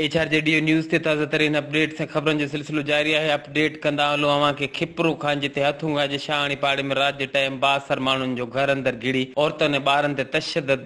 H R G D O news تي تازه ترين اپ ڊيٽ سان خبرن جو سلسلو جاري آهي اپ ڊيٽ ڪندا هلون اوهان کي کپرو خان جتي هٿ هونگا جي شاهاڻي پاڙي ۾ رات جي ٽائيم با اثر ماڻهن جو گهر اندر گهڙي عورتن ۽ ٻارن تي تشدد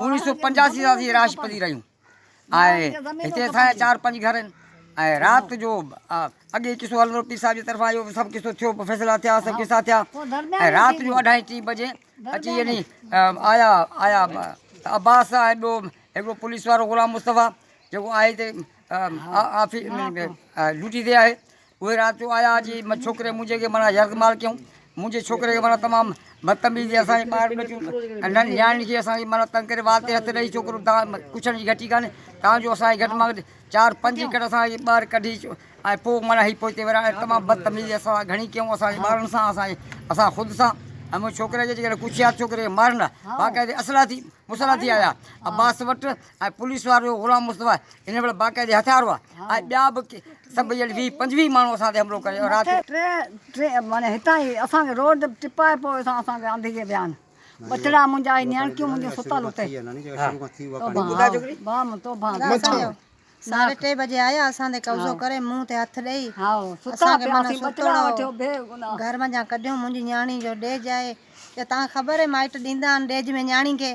اوڻيھ سؤ پنجاسي سان اسين رھائش پذير آھيون ۽ ھتي اسان جا چار پنج گھر آھن ۽ رات جو اڳي قصو ھلندو ھو پير صاحب جي طرفان اھو سڀ قصو ٿيو فيصلا ٿيا سڀ قصا ٿيا ۽ رات جو اڍائي ٽي بجي اچي يعني آيا آيا عباس ۽ ٻيو ھڪڙو پوليس وارو غلام مصطفيٰ جيڪو آھي ھتي آفيس ڊيوٽي تي آھي اهي رات جو آيا جي م ڇوڪري منهنجي کي معنيٰ يرغمال ڪيائون منهنجي ڇوڪري کي معنيٰ تمام بدتميزي اسان جي ٻاهر ٻچيون ۽ نياڻين کي اسان کي معنيٰ تنگ ڪري وات تي هٿ ڏئي ڇوڪرو تان ڪڇڻ جي گهٽي ڪانهي تان جو اسان کي گهٽ مان گهٽ چار پنج ايڪڙ اسان کي ٻاهر ڪڍي اچو ۽ پوء معنيٰ هي پوئتي وريا ۽ تمام بدتميزي اسان سان گهڻي ڪيائون اسان جي ٻارن سان اسان جي اسان خود سان ۽ منهنجي ڇوڪري کي جيڪڏهن ڪڇيات ڇوڪري کي مارن ها باقاعدي اسلحا ٿي مسلح ٿي آيا عباس وٽ ۽ پوليس وارو غلام مصطفيٰ هن ويل باقاعدي هٿيار هئا ۽ ٻيا به سڀ جهڙي ويهه پنجويهه ماڻهو اسان تي حملو ڪري رات جو معني هتان ئي اسان کي روڊ تي ٽپائي پوء اسان اسان کي آندي جي ويان ٻچڙا منهنجا هي نيانڪيون منهنجون ستل اتي توبان توبان توبان ساڍي ٽي بجي آيا اسان تي قبضو ڪري منهن تي هٿ ڏئي اسان کي معني ستوڙا گهر منجهان ڪڍيو منهنجي نياڻي جو ڏيج آهي جو تان کي خبر آهي مائٽ ڏيندا آهن ڏيج ۾ نياڻي کي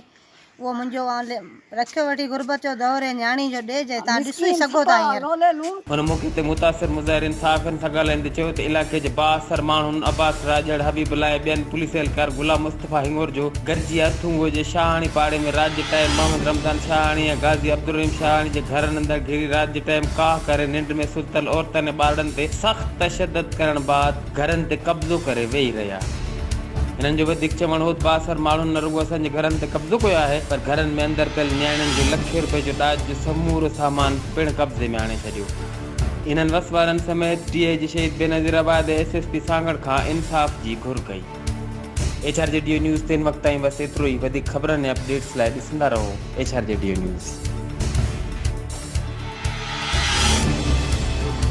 اهو منهنجو آن لي رکيو وٺي غربت جو دور اي نياڻي جو ڏيج اي تهان ڏسو ئي سگهو ٿا هينئر. هن موقعي تي متاثر مظاهرين صحافين سان ڳالهائيندي چيو ته علائقي جي بااثر ماڻهن عباس راڄڙ، حبيب الله ۽ ٻين پوليس اهلڪار غلام مصطفيٰ هنڱور جو گڏجي ارٿونگو جي شاهاڻي پاڙي ۾ رات جي ٽائيم محمد رمضان شاهاڻي ۽ غازي عبدالرحيم شاهاڻي جي گهرن اندر گهري رات جي ٽائيم ڪاهه ڪري ننڊ ۾ ستل عورتن ۽ ٻارڙن تي سخت تشدد ڪرڻ بعد گهرن تي قبضو ڪري ويهي رهيا. هنن جو وڌيڪ چوڻ هو ته بااثر ماڻهن نه رڳو اسان جي گهرن تي قبضو ڪيو آهي پر گهرن ۾ اندر پيل نياڻين جو لکين روپين جو ڏاج جو سمورو سامان پڻ قبضي ۾ آڻي ڇڏيو. هنن وس وارن سميت D I G Shaheed Benazirabad ۽ S S P Sanghar کان انصاف جي گهر ڪئي. H R G D O news تين وقت تائين بس ايترو ئي وڌيڪ خبرن ۽ اپڊيٽس لاء ڏسندا رهو H R G D O news.